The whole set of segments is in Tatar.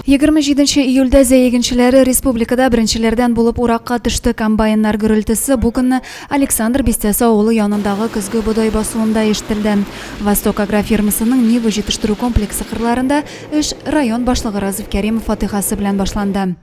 Егерме җиденче июльдә Зәй игенчеләре республикада беренчеләрдән булып уракка төште. Комбайннар гөрелтесе бу көнне Александр бистәсе авылы янындагы көзге бодай басуында ишетелде. Восток агрофирмасының Нива җитештерү комплексы кырларында эш район башлыгы Разиф Кәримов фатыйхасы белән башланды.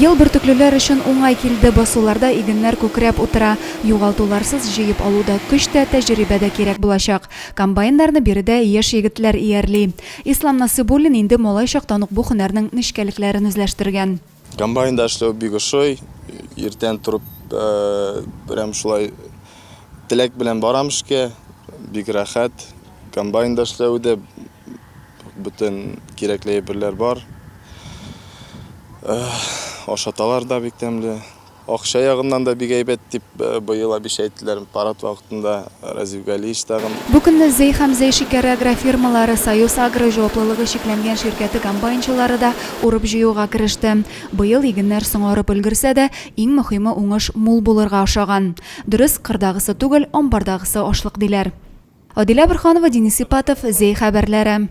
Ел бөртеклеләр өчен уңай килде, басуларда игеннәр күкрәп утыра. Югалтуларсыз җыеп алу да, көч тә, тәҗрибә дә кирәк булачак. Комбайннарны биредә яшь егетләр иярли. Ислам Насыйбуллин инде малай чактан ук бу һөнәрнең нечкәлекләрен үзләштергән. Комбайнда эшләү бик ошый. Иртән торып, прям шулай теләк белән барам эшкә. Бик рәхәт комбайнда эшләве дә. бөтен кирәкле әйберләр бар. Ашаталар да бик тәмле. Акча ягыннан да бик әйбәт, дип быел Абиша әйттеләр парад вакытында Разиф Галиевич тагын. Бу көнне Зәй һәм Зәй шикәре агрофирмалары, Союз-Агро җаваплылыгы чикләнгән ширкәте комбайнчылары да урып-җыюга кереште. Быел игеннәр соңарып өлгерсә дә, иң мөхиме уңыш мул булырга ошаган. Дөрес, кырдагысы түгел, амбардагысы ашлык, диләр. Адилә Борханова, Денис Ипатов, Зәй хәбәрләре.